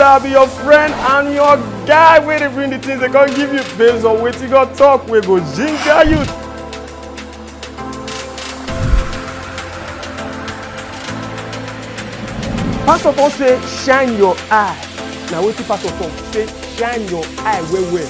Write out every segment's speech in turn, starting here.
I'll be your friend and your guy wey dey bring the things they come give you based on wetin God talk wey go ginger you. Pastor Paul say shine your eye. Na wetin Pastor Paul say shine your eye well well.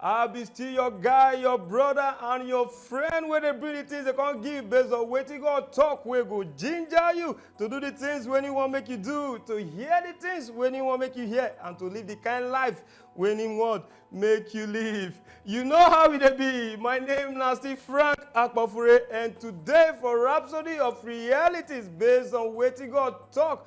I be still your guy, your brother, and your friend wey dey bring the things they come give based on wetin God talk wey go ginger you to do the things wey He wan make you do, to hear the things wey He wan make you hear, and to live the kind life wey He want make you live. You know how e dey be. My name na still Frank Akpofure, and today for Rhapsody of Realities based on wetin God talk,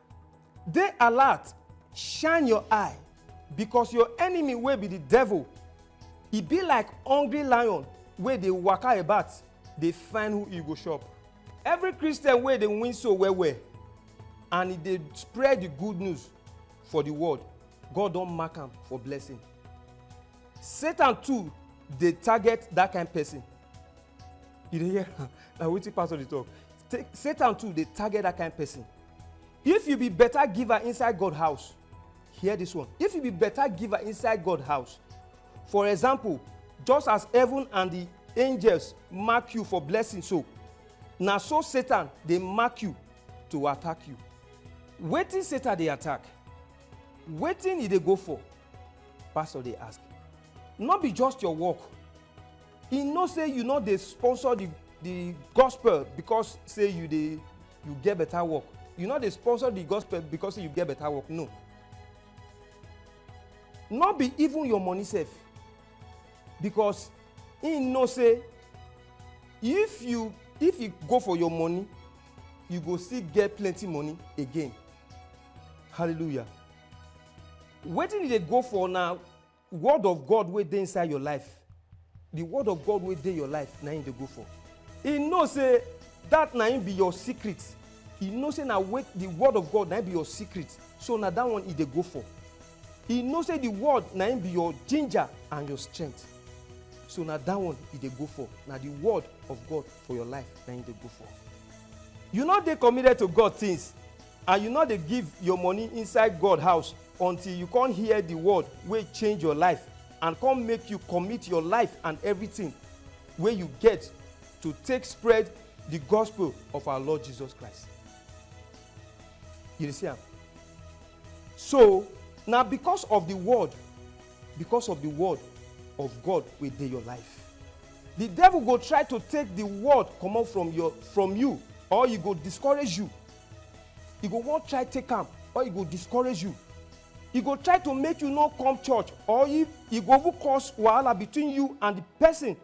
Dey alert, shine your eye, because your enemy wey be the devil, e be like hungry lion wey dey waka about dey find who e go chop. Every Christian wey dey win soul well well and e dey spread the good news for the world, God don mark am for blessing. Satan too dey target that kind person. you dey hear am na wetin pastor dey talk Ta- satan too dey target that kind person if you be better giver inside god house hear this one if you be better giver inside god house for example just as heaven and the angels mark you for blessing so na so satan dey mark you to attack you wetin satan dey attack wetin e dey go for pastor dey ask no be just your work e know say you no dey sponsor the the gospel because say you dey you get better work you no dey sponsor the gospel because say you get better work no no be even your money sef because he know say if you if you go for your money you go still get plenty money again hallelujah wetin you dey go for na Word of God wey dey inside your life, the word of God wey dey your life na him dey go for. He know say that na him be your secret. He know say na wait the word of God na him be your secret. So na that one he dey go for. He know say the word na him be your ginger and your strength. So na that one he dey go for. Na the word of God for your life na him dey go for. You no dey committed to God things. And you nor dey give your money inside God house until you con hear the word wey change your life and con make you commit your life and everything wey you get to take spread the gospel of our Lord Jesus Christ. You dey see am? So, na because of the word, because of the word of God wey dey your life. The devil go try to take the word comot from your, from you or e go discourage you. e go wan try take am or e go discourage you e go try to make you no come church or if e go even cause wahala between you and the person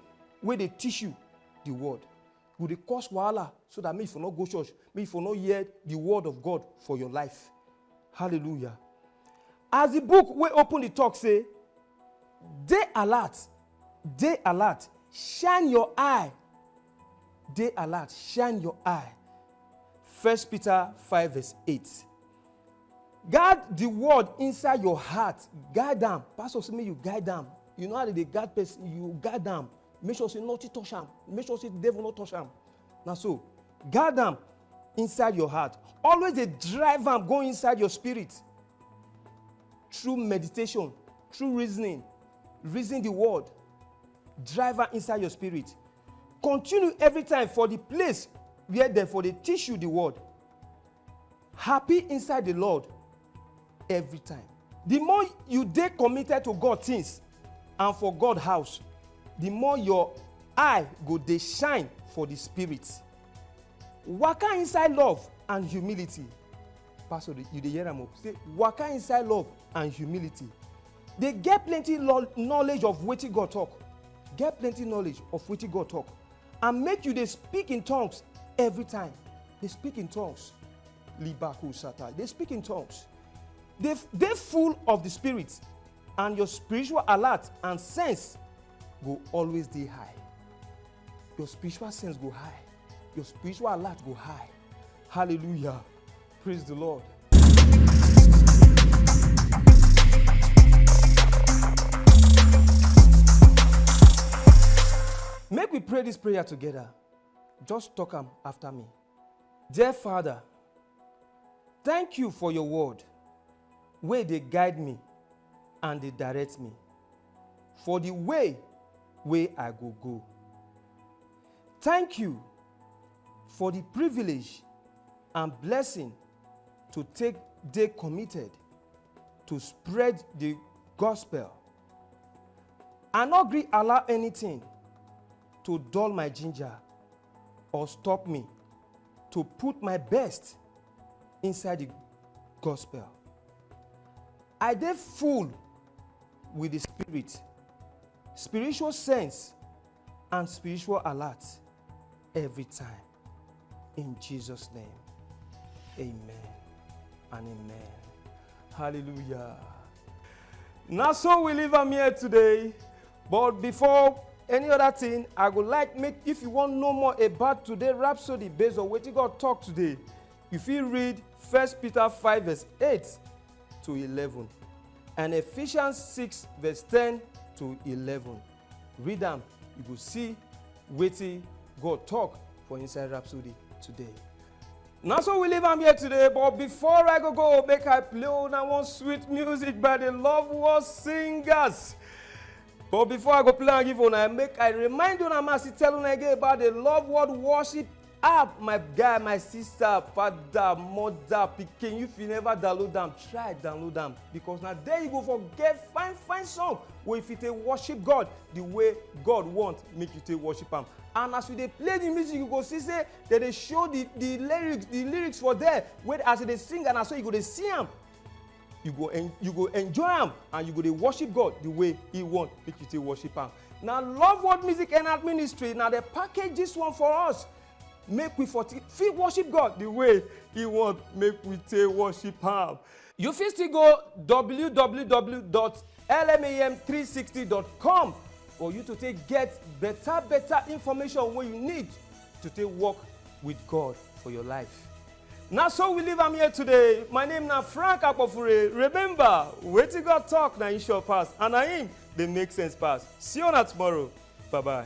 wey dey teach you the word e go dey cause wahala so that make you for no go church make you for no hear the word of god for your life hallelujah as the book wey open the talk say dey alert dey alert shine your eye Dey alert, shine your eye. First Peter five verse eight. Guard the word inside your heart. Guide am. Pastor say make you guide am. You know how they dey guard person, you guide am. Make sure say nothing touch am. Make sure say devil no touch am. Na so. Guard am inside your heart. Always dey drive am go inside your spirit. Through meditation, through reasoning, reason the word. drive am inside your spirit continue every time for the place where dem for dey teach you the word happy inside the lord every time the more you dey committed to god things and for god house the more your eye go dey shine for the spirit waka inside love and humility pastor you dey hear am o say waka inside love and humility Dey get plenty knowledge of wetin God talk, get plenty knowledge of wetin God talk and make you dey speak in tongues every time. Dey speak in tongues. Libaku sata. Dey speak in tongues. Dey dey full of the spirit and your spiritual alert and sense go always dey high. Your spiritual sense go high. Your spiritual alert go high. Hallelujah. Praise the Lord. Make we pray this prayer together. Just talk am after me. Dear Father, thank you for your word wey dey guide me and dey direct me for the way wey I go go. Thank you for di privilege and blessing to take dey committed to spread di gospel. I no gree allow anytin to dull my ginger or stop me to put my best inside di gospel. I dey full wit di spirit, spiritual sense and spiritual alert every time. In Jesus' name, amen and amen. Hallelujah. Now, so we leave am here today. But before any other thing, I would like make if you want know more about today Rhapsody based on wetin God talk today, you fit read 1 Peter 5 verse 8 to 11 and Ephesians 6 verse 10 to 11. Read am, you go see wetin God talk for inside Rhapsody today. na so we leave am here today but before i go go make i play una one sweet music by the love world singers but before i go play am give una make i remind una ma still tell una again about the love world worship app my guy my sister father mother pikin if you never download am try download am because na there you go for get fine fine song wey you fit take worship god the way god want make you take worship am and as you dey play the music you go see say dem dey show the the lyrics the lyrics for there wey as you dey sing and na so you go dey see am you go en you go enjoy am and you go dey worship god the way he want make you take worship am na love world music and art ministry na dey package this one for us make we for take- fit worship god the way he want make we take worship am you fit still go www.lmam360.com for you to take get better better information wey you need to take work with god for your life. na so we leave am here today my name na frank akpofure remember wetin god talk na him sure pass and na him dey make sense pass see una tomorrow bye bye.